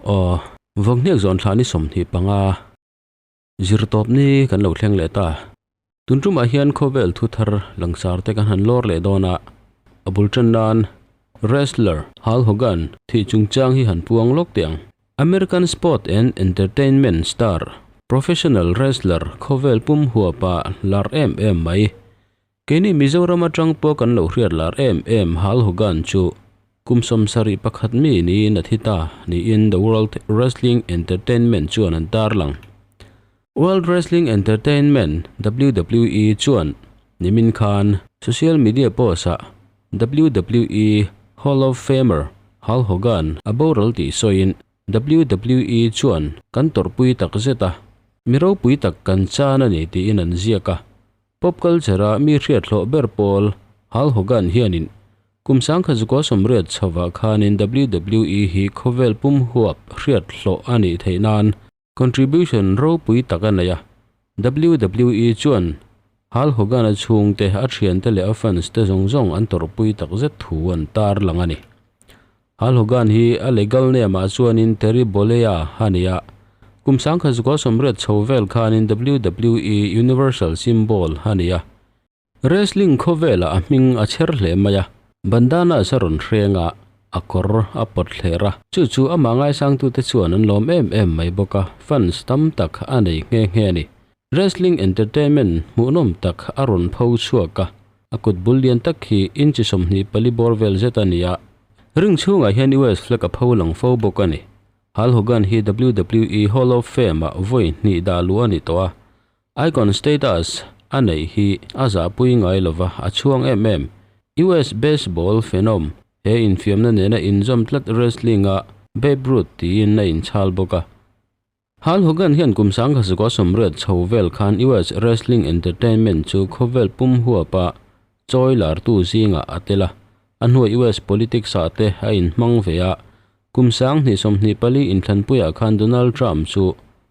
Aww va nghek zawh an thlah ni sawmhnih panga zir tawp ni kan lo thleng leh ta tun tumah hian khawvel thu thar langsar te kan han lawr leh dawn a a bul tan nan wrestler hulk hogan thih chung chang hi han puang lawk teh ang American sport and entertainment star, professional wrestler khawvel pum huapa lar em em mai. Keini Mizoram atang pawh kan lo hriat lar em em Hal Hogan chu kum sawm sarih pakhat mi niin a thi ta niin The World Wrestling Entertainment chuan an tarlang. World Wrestling Entertainment, WWE, chuan nimin khan social media post ah WWE Hall of Famer Hul Hogan a boral tih sawiin WWE chuan kan tawrhpui tak zet a, mi ropui tak kan chan a ni tiin an ziak a. Pop culture ah mi hriatthlawh ber pawl Hul Hogan hianin kum sangkhat zukua sawmriat chhovah khanin WWE hi khawvel pum huap hriatthlawh a nih theih nan contribution ropui tak a nei a, wwe chuan Hulk Hogan a chhungte, a thiante leh a fans te zawng zawng an tawrhpui tak zet thu an tar lang a ni. Hulk Hogan hi a legal name ah chuanin Terry Bollea a ni a, kum sangkhat Zukalsawm riat chho vel khanin wwe Universal Symbol a ni a. Wrestling khawvelah a hming a chher hle mai a, bandanas a rawn hreng a, a kawr a pawt hler a, chu chu amah ngaisangtute chuan an lawm em em mai bawk a, fans tam tak a nei nghe nghe a ni. Wrestling entertainment hmuhnawm tak a rawn pho chhuak a, a kut bul lian tak khi inchi sawmhnih pali bawr vel zet a ni a, ring chhungah hian US flag a pho lang fo bawk a ni. Hal Hogan hi WWE Hall of Fame-ah vawi hnih dah luh a ni tawh a, Icon status a neih hi a zahpui ngai lova a chhuang em em. US baseball phenom he infiamna nena inzawm tlat wrestling a Babe Ruth tiin a inchhal bawk a. Hal Hogan hian kum sangkhasakuaa sawmriat chho vel khan US wrestling entertainment chu khawvel pum huap a chawi lartu zingah a tel a, a hnuai US politics ah te a inhmang ve a. Kum sang hnih sawmhnih pali inthlanpuiah khan Donald Trump chu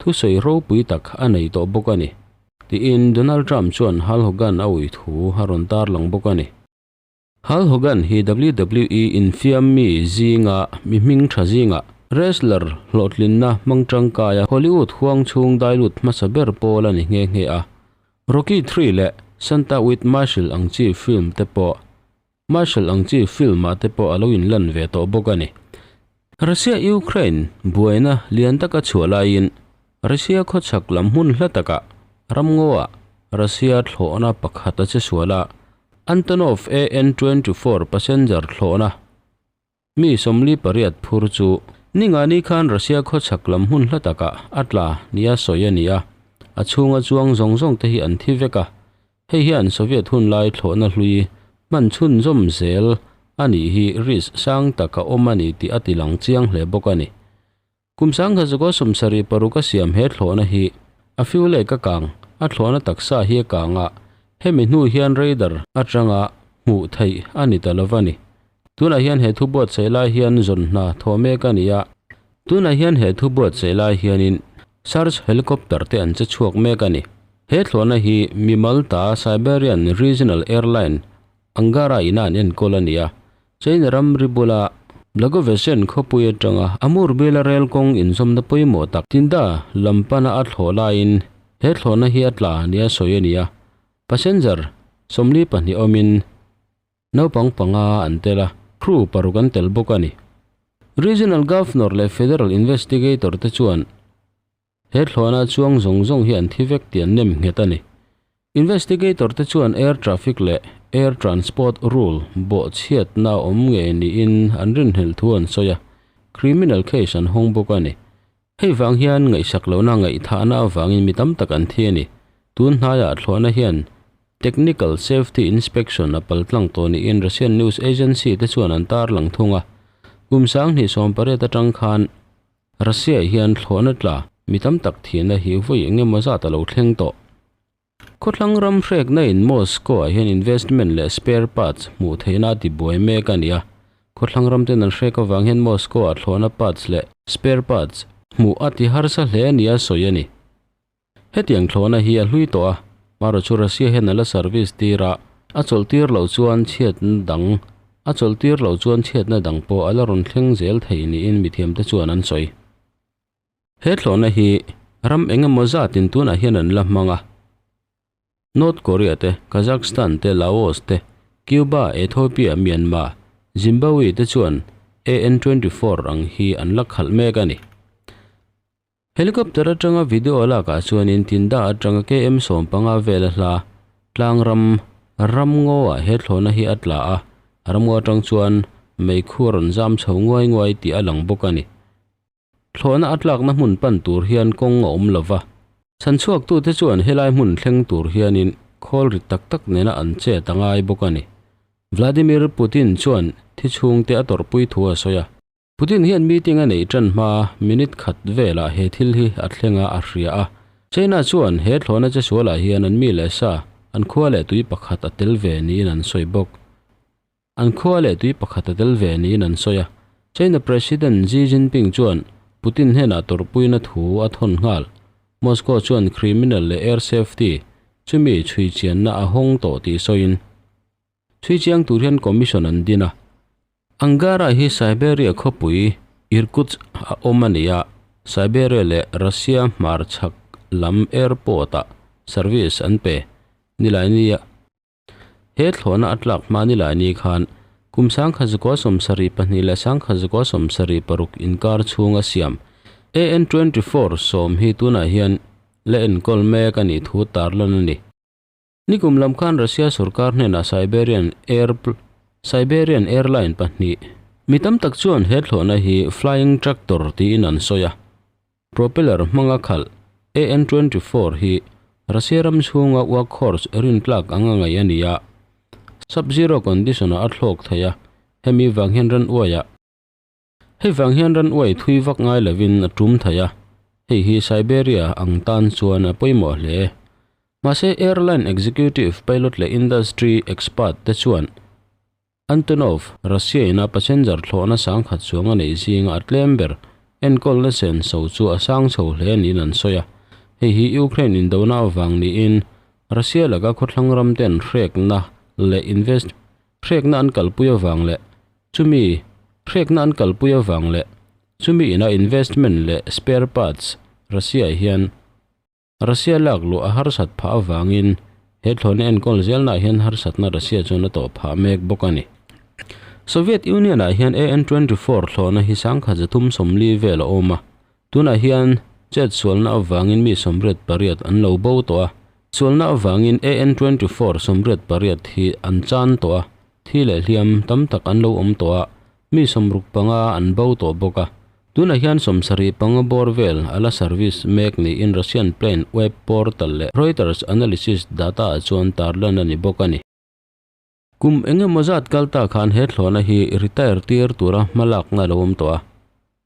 thusawi ropui tak a nei tawh bawk a ni, tiin Donald Trump chuan Hal Hogan a ui thu a rawn tarlang bawk a ni. Hal Hogan hi WWE infiammi zinga mi hming tha zingah wrestler hlawhtlinna hmang tangkaia Hollywood huang chhung dailut hmasa ber pawl a ni nghe nghe a. Rocky Three leh Santa With Marshall ang chi film te pawh Marshall ang chi film ah te pawh a lo inlan ve tawh bawk a ni. Russia Ukraine buaina lian tak a chhuah laiin Russia khawchhak lam hmun hla takah ramngawah Russia thlawhna pakhat a che sual a, Antonov AN-24 passenger thlawhna Mi sawmli pariat phur chu ni nga ni khan Russia khaw chhak lam hmun hla takah a tla nia sawi a ni a, a chhunga chuang zawng zawng te hi an thi vek a, hei hian Soviet hun lai thlawhna hlui hman chhunzawm zel a nih hi risk sang tak a awm a ni tih a tilang chiang hle bawk a ni. Kum sangha zuka sawm sarih paruk a siam he thlawhna hi a fiu leh ka kang, a thlawhna taksa hi a kang a, hemi hnu hian radar atanga hmuh theih a ni ta lo va ni. Tunah hian he thu buatsaih lai hian zawn hna thawh mek a ni a. Tunah hian he thu buatsaih lai hianin search helicopter te an che chhuak mek a ni. He thlawhna hi mi Malta Siberian Regional Airline Angara ina an enkawl a ni a, China ram ri bula Blagovesyan khawpui atanga a mur bela rel kawng inzawmna pawimawh tak Tinda lam pana a thlawh laiin he thlawhna hi a tla nih a sawi a ni a, passenger sawmli pahnih awmin naupang panga an tel a, crew paruk an tel bawk a ni. Regional Governor leh Federal Investigator te chuan He thlawhna chuang zawng zawng hi an thi vek tih an nem nghet a ni. Investigator te chuan Air Traffic leh Air Transport Rule bawhchhiatna a awm nge niin an rinhlel thu an sawi a, criminal case an hawng bawk a ni. Hei vang hian ngaihsak lohna ngaihthahna avangin mi tam tak an thi a ni. Tun hnaiah thlawhna hian Technical Safety Inspection a pal tlang tawh niin Russian news agency te chuan an tarlang thung a. Kum Sanghnihsawmpariat atang khan Russia-i hian thlawhna tla mi tam tak thihna hi vawi eng emaw zat a lo thleng tawh. Khawthlang ram hrekna in Moscow-ah hian investment leh spare parts hmuh theihna a ti buai mek a ni a. Khawthlang ram ten an hrek avang hian Moscow-ah thlawhna parts leh spare parts hmuh a ti harsa hle a nia sawi a ni. Hetiang thlawhna hi a hlui tawh a, Maro chu Russia hian a la service tir a, a chawlhtir loh chuan chhiatna dang, a chawlhtir loh chuan chhiatna dang pawh a la rawn thleng zel thei niin mithiamte chuan an sawi. He thlawhna hi ram eng emaw zatin tunah hian an la hmang a, North Korea te, Kazakhstan te, Laos te, Cuba, Ethiopia, Myanmar, Zimbabwe te chuan AN-24 ang hi an la khalh mek a ni. Helicopter atanga video lakah chuanin tindah atanga KM sawm panga vela hla tlangram Ramngawa he thlawna hi a tla a, Ramngaw atang chuan meikhu a rawn zam chho nguai nguai tih a lang bawk a ni. Thlawna a tlakna hmun pan tur hian kawng a awm lova, chhanchhuaktute chuan helai hmun thleng tur hianin khawl rit tak tak nena an chet a ngai bawk a ni. Vladimir Putin chuan thi chhungte a tawrhpui thu a sawi a. Putin hian meeting a neih tan hma minute khat velah he thil hi a thlenga a hria a. China chuan he thlawhna che sualah hian an mi leh sa, an khua leh tui pakhat a tel ve niin an sawi bawk. An khua leh tui pakhat a tel ve niin an sawi a. China President Xi Jinping chuan Putin hnenah tawrhpuina thu a thawn nghal. Moscow chuan criminal leh air safety chumi chhui chianna a hawng tawh tih sawiin. Thui chiang tur hian commission an din a. Angara hi Siberia khawpui Irkutsk a awm a nia, Siberia leh Russia hmarchhak lam airport ah service an pe nilaini a. He thlawhna a tlak hma nilaini khan kum sangkhat zakua sawmsari pahnih leh sangkhat zakua sawmsari paruk inkar chhung a siam. AN twenty four sawm hi tunah hian la enkawl mek a nih thu tarlan a ni. Nikum lam khan Russia sorkar hnenah Siberian Airpl Siberian Airline pahnih mi tam tak chuan he thlawhna hi Flying Tractor tiin an sawi a. Propeller hmanga khalh AN twenty four hi Russia ram chhunga workhorse rin tlak ang a ngaih a ni a, sub-zero condition-ah a thlawk thei a, hemi vang hian ran uai a. Hei vang hian ran uai thui vak ngai lovin a tum thei a, hei hi Siberia ang tan chuan a pawimawh hle. Mahse, airline executive, pilot leh industry expert te chuan Antonov Russia-ina passenger thlawhna sangkhat chuang a neih zinga a tlem ber, enkawlna sen so chu a sang chho hle niin an sawi a. Hei hi Ukraine indona avang niin Russia laka khawthlang ramte an hrekna leh invest hrekna an kalpui avang leh Chumi hrekna an kalpui avang leh chumi ina investment leh spare parts Russia-ah hian Russia lak luh a harsat phah avangin he thlawhna enkawl zelnaah hian harsatna Russia chuan a tawh phah mek bawk a ni. Soviet Union-ah hian AN twenty four thlawhna hi sangkhat zathum sawmli vel a awm a, tunah hian chet sualna avangin mi sawmriat pariat an lo bo tawh a, sualna avangin AN twenty four sawmriat pariat hi an chan tawh a, thi leh hliam tam tak an lo awm tawh a, mi sawmruk panga an bo tawh bawk a. Tunah hian sawmsarih panga bawr vel a la service mek niin Russian plane web portal leh Reuters analysis data-ah chuan tarlan a ni bawk a ni. Kum eng emaw zat kal ta khan he thlawhna hi retire tir tura hmalakna a lo awm tawh a,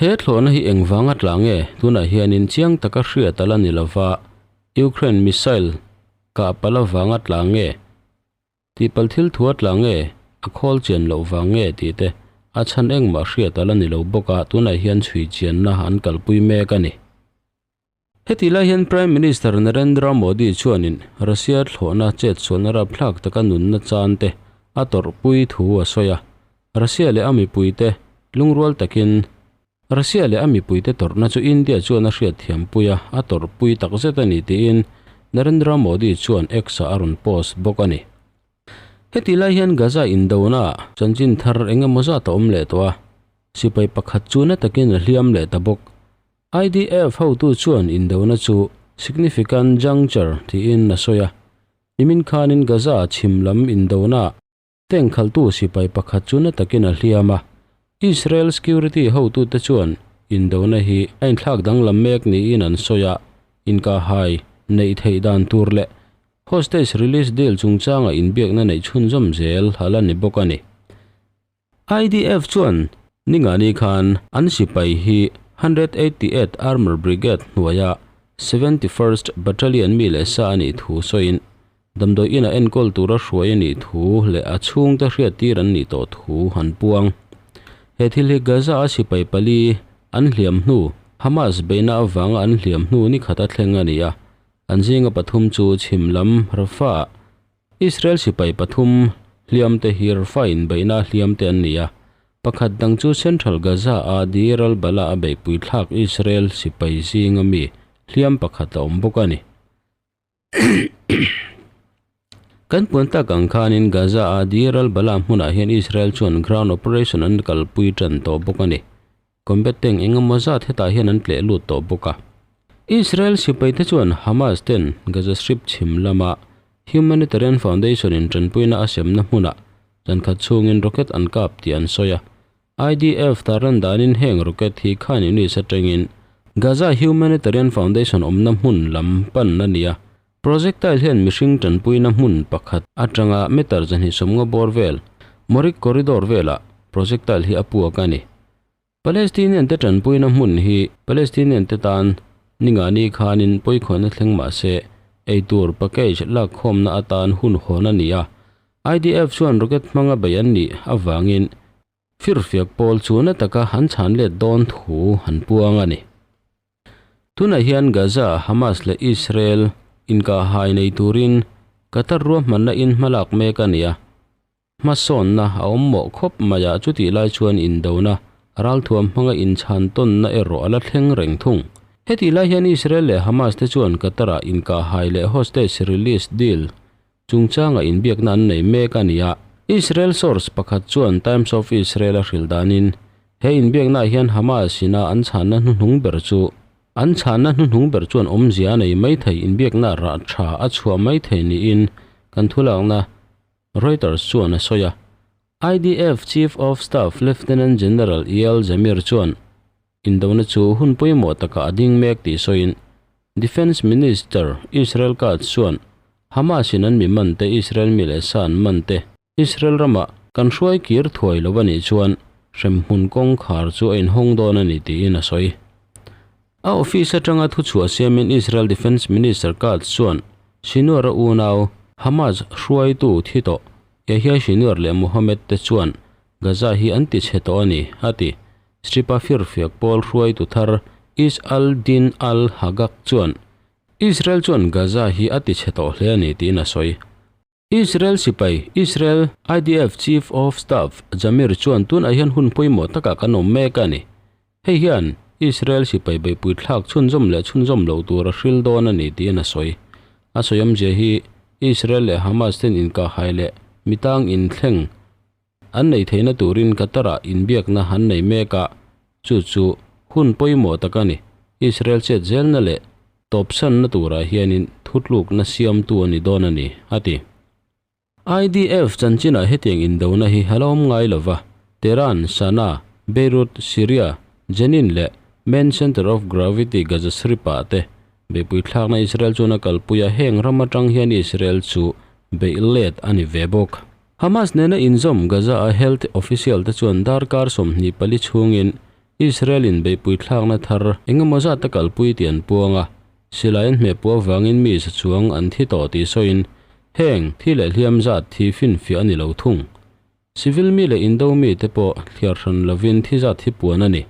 He thlawhna hi engvang a tla nge? Tunah hianin chiang taka hriat a la ni lo va, Ukraine missile kah pal avang a tla nge? Tihpal thil thu a tla nge? A khawl chian loh vang nge? tih te a chhan engmah hriat a la ni lo bawk a, tunah hian chhui chianna an kalpui mek a ni. Heti lai hian Prime Minister Narendra Modi chuanin Russia thlawhna chetsualna rapthlak taka nunna chante a tawrhpui thu a sawi a. Russia leh a mipuite lungrual takin Russia leh a mipuite tawrhna chu India chuan a hriatthiampui a, a tawrhpui takzet a ni tiin Narendra Modi chuan X-ah a rawn post bawk a ni. Heti lai hian Gaza indonaah chanchin thar eng emaw zat a awm leh tawh a, sipai pakhat chuna takin a hliam leh ta bawk. IDF hotu chuan indona chu significant juncture tiin a sawi a, nimin khanin Gaza chhim lam indonah tank khaltu sipai pakhat chu na takin a hliam a. Israel security hotute chuan indona hi a inthlak danglam mek niin an sawi a, inkahhai neih theih dan tur leh hostage release deal chungchanga inbiakna neih chhunzawm zel a la ni bawk a ni. IDF chuan Ningani khan an sipai hi Hundred Eighty Eight Armour Brigade hnuaia Seventy First Battalion mi leh sa a nih thu sawiin damdawi ina enkawl tura hruai a nih thu leh a chhungte hriattir an nih tawh thu han puang. He thil hi Gaza-a sipai pali an hliam hnu Hamas beihna avanga an hliam hnu nikhat a thleng a ni a, an zinga pathum chu chhim lam Rafah Israel sipai pathum hliamte hi Rafah inbeihna hliamte an ni a, pakhat dang chu Central Gaza-a Deir al-Balah-a beihpui thlak Israel sipai zinga mi hliam pakhat a awm bawk a ni. Kan puan tak ang khanin Gaza-a Deir al-Balah hmunah hian Israel chuan ground operation an kalpui tan tawh bawk a ni. Combatant eng emaw zat hetah hian an tleh lut tawh bawk a. Israel sipaite chuan Hamas ten Gaza Strip chhim lama Humanitarian Foundation in tanpuina a semna hmuna chankhat chhungin rocket an kap tih an sawi a. IDF tarlan danin heng rocket hi Khan Yunis atangin Gaza Humanitarian Foundation awmna hmun lam pan a ni a, Projectile hian mihring tanpuina hmun pakhat atanga meter zahnih sawmngaw bawr vel, Moric Corridor velah projectile hi a puak a ni. Palestinian-te tanpuina hmun hi Palestinian-te tan ningani khanin pawikhawihna thleng mah se, eitur package lakkhawmna atan hun hawn a ni a. IDF chuan rocket hmanga bei an nih avangin Fir fiak pawl chu na taka an chhan let dawn thu han puang a ni. Tunah hian Gaza, Hamas leh Israel inkahaai nei turin Qatar ruahmanna in hmalak mek a nia. Hmasawnna a awm mawh khawp mai a, chutih lai chuan indona, ralthuam hmanga inchhan tawnna erawh a la thleng reng thung. Hetih lai hian Israel leh Hamas te chuan Qatar-a inkahaai leh hostage release deal chungchanga inbiakna an nei mek a ni a. Israel source pakhat chuan Times of Israel a hril danin, He inbiaknaah hian Hamas ina an chhanna hnuhnung ber chu an chhanna hnuhnung ber chuan awmzia a nei maithei inbiakna rah tha a chhuah maithei niin kan thulakna Reuters chuan a sawi a. IDF Chief of Staff Lieutenant General Eyal Zamir chuan, Indona chu hun pawimawh takah a ding mek tih sawiin Defence Minister Israel Katz chuan Hamas-in an mi man te Israel mi leh sa an man te Israel ramah kan hruai kir thuai lo a nih chuan hremhmun kawngkhar chu a inhawng dawn a ni tiin a sawi. A office atanga thuchhuah siamin Israel Defence Minister Katz chuan Sinwara unau Hamas hruaitu thi tawh Yahya Sinwar leh Mohammed te chuan Gaza hi an tichhe tawh a ni a ti. Stripa firfiak pawl hruaitu thar Is al-Din al-Haggaq chuan Israel chuan Gaza hi a tichhe tawh hle a ni tiin a sawi. Israel sipai, Israel IDF Chief of Staff Zamir chuan tunah hian hun pawimawh takah kan awm mek a ni. Hei hian Israel sipai beihpuithlak chhunzawm leh chhunzawm lo tur a hril dawn a ni tiin a sawi. A sawiawmzia hi Israel leh Hamas ten inkahaileh mitang inthleng An neih theihna turin Qatar-a inbiakna an nei mek a, chu chu hun pawimawh tak a ni. Israel chetzelna leh tawpsanna turah hianin thutlukna siamtu a ni dawn a ni, a ti. IDF chanchinah hetiang indona hi a la awm ngai lo va, Tehran, Sana'a, Beirut, Syria, Jenin leh Main Centre of Gravity Gaza Strip-ah te. Beihpui thlakna Israel chuan a kalpui a, heng ram atang hian Israel chu beih let a ni ve bawk. Hamas nena inzawm Gaza-a health official-te chuan darkar sawmhnih pali chhungin Israel-in beihpui thlakna thar engemaw zat a kalpui tih an puang a, silaiin hmehpuah vangin mi sachuang an thi tawh tih sawiin heng thi leh hliam zat thi finfiah a ni lo thung. Civil mi leh Indo mite pawh thliar hran lovin thi zat hi puan a ni.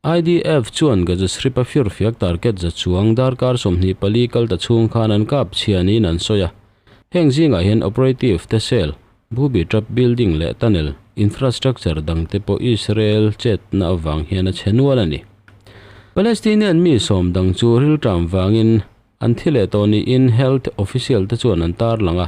IDF chuan Gaza Strip a fir fiak target za chuang darkar sawmhnih pali kal ta chhung khan an kap chhia niin an sawi a. Heng zingah hian operative te cell, booby trap building leh tunnel infrastructure dang te pawh Israel chetna avang hian a chhe nual a ni. Palestinian mi sawm dang chu rilṭam vangin an thi leh tawh niin health official te chuan an tarlang a,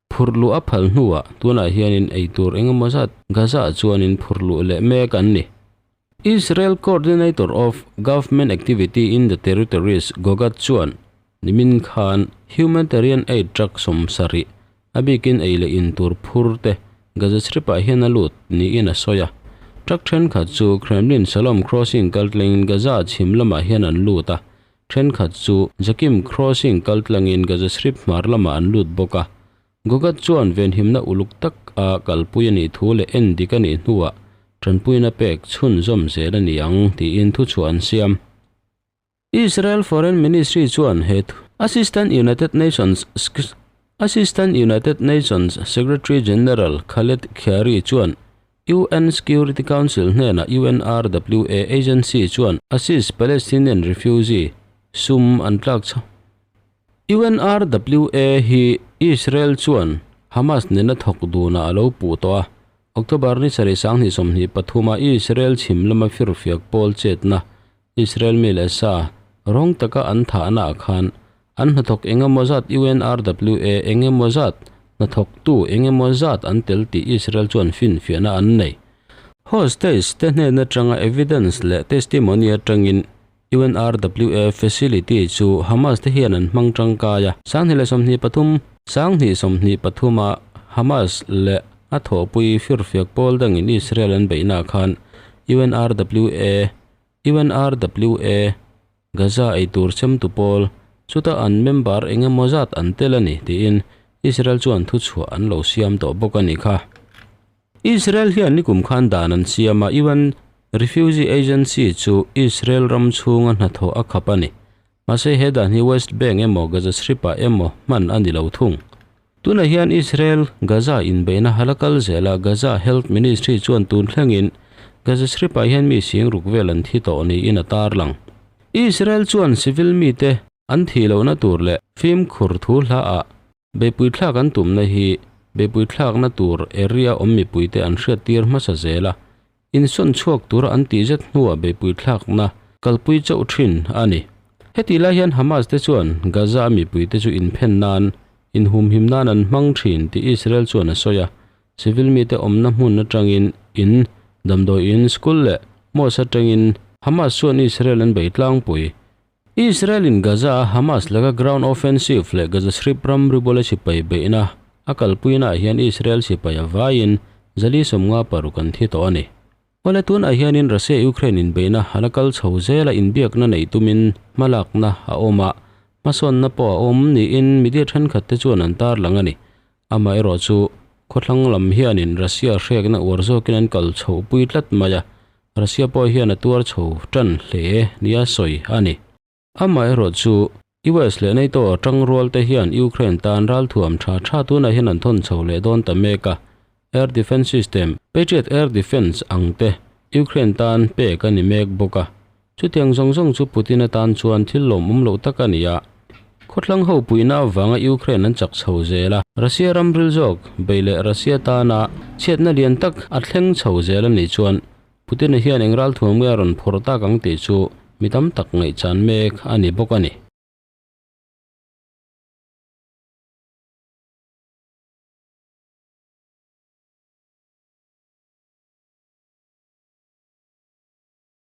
Phurhluh a phal hnuah tunah hianin eitur engemaw zat Gaza chuanin phurhluh leh mek an ni. Israel Coordinator of Government Activity in the Territories, Gogat, chuan nimin khan humanitarian aid truck sawm sarih a bikin ei leh in tur phur te Gaza Stripah hian a lut niin a sawi a. Truck thenkhat chu Kremlin Shalom Crossing kal tlengin Gaza chhim lamah hian an lut a, Thenkhat chu Jakim Crossing kal tlangin Gaza Strip hmar lamah an lut bawk a, Gogat chuan venhimna uluk tak a kalpui a nih thu leh en dik a nih hnuah tanpuina pek chhun zawm zel a ni ang tiin thuchhuah an siam. Israel Foreign Ministry chuan he thu Assistant United Nations Assistant United Nations Secretary General Khaled Khiari chuan UN Security Council hnena UNRWA agency chuan Aziz Palestinian refugee sum an tlak chh UNRWA hi Israel chuan Hamas nena thawk duna a lo puh tawh a, October ni sarih sang hnih sawmhnih pathuma Israel chhim lama fir fiak pawl chetna Israel mi leh sa rawng taka an thahnaah khan an hnathawk eng emaw zat UNRWA eng emaw zat hnathawk tu eng emaw zat an tel tih Israel chuan finfiahna an nei. Hostage te hnen atanga evidence leh testimony atangin UNRWA facility chu Hamas te hian an hmang tangkai a. Sanghnih leh sawmhnih pathum. Sanghnih sawmhnih pathuma Hamas leh a thawhpui firfiak pawl dangin Israel an beihnaah khan UNRWA UNRWA, Gaza eitur chemtu pawl, chuta an member eng emaw zat an tel a ni tiin Israel chuan thuchhuah an lo siam tawh bawk a ni kha. Israel hian nikum khan dan an siam a, UN Refugee Agency chu Israel ram chhunga hnathawh a khap a ni. Mahse he dan hi West Bank emaw Gaza Strip-ah emaw hman a ni lo thung. Tunah hian Israel Gaza inbeihna hala kal zel a, Gaza Health Ministry chuan tun thlengin Gaza Strip-ah hian mi sing ruk vel an thi tawh niin a tarlang. Israel chuan civil mite an thih lohna tur leh fimkhur thu hla ah Beipuithlak an tumna hi beipuithlakna tur area awm mipuite an hriat tir hmasa zel a, insawn chhuak tur an tih zet hnuah beipuithlakna kalpui chauh thin a ni. Heti lai hian Hamas te chuan Gaza a mipuite chu inphen nan, inhumhim nan an hmang thin tih Israel chuan a sawi a, civil mite awmna hmun atangin in, damdawiin, school leh mosque atangin Hamas chuan Israel an bei tlangpui Israel-in Gaza-a Hamas laka ground offensive leh Gaza Strip ram ribawla sipai beihna a kalpuinaah hian Israel sipai a vaiin zali sawmnga paruk an thi tawh a ni. Awle tunah hianin Russia-Ukraine inbeihna a la kal chho zel a, inbiakna neih tumin hmalakna a awm a, hmasawnna pawh a awm niin media thenkhatte chuan an tarlang a ni. Amaherawh chu, khawthlang lam hianin Russia hrekna uar zawkin an kal chhoh pui tlat mai a, Russia pawh hian a tuar chho ṭan hle nia sawi a ni. Amaherawh chu, US leh NATO ṭang rualte hian Ukraine tan ral thuam ṭha ṭha tunah hian an thawn chho leh dawn ta mek a, air defence system, Patriot air defence, ang te Ukraine tan pek a ni mek bawk a, Chutiang zawng zawng chu Putin atan chuan thil lawmawm loh tak a ni a. Khawthlang ho puihna avanga Ukraine an chak chho zel a, Russia ramril zawk bei leh Russia tana chhiatna lian tak a thleng chho zel a nih chuan Putin-a hian eng ral thuam nge a rawn phawrh tak ang tih chu mi tam tak ngaihchan mek a ni bawk a ni.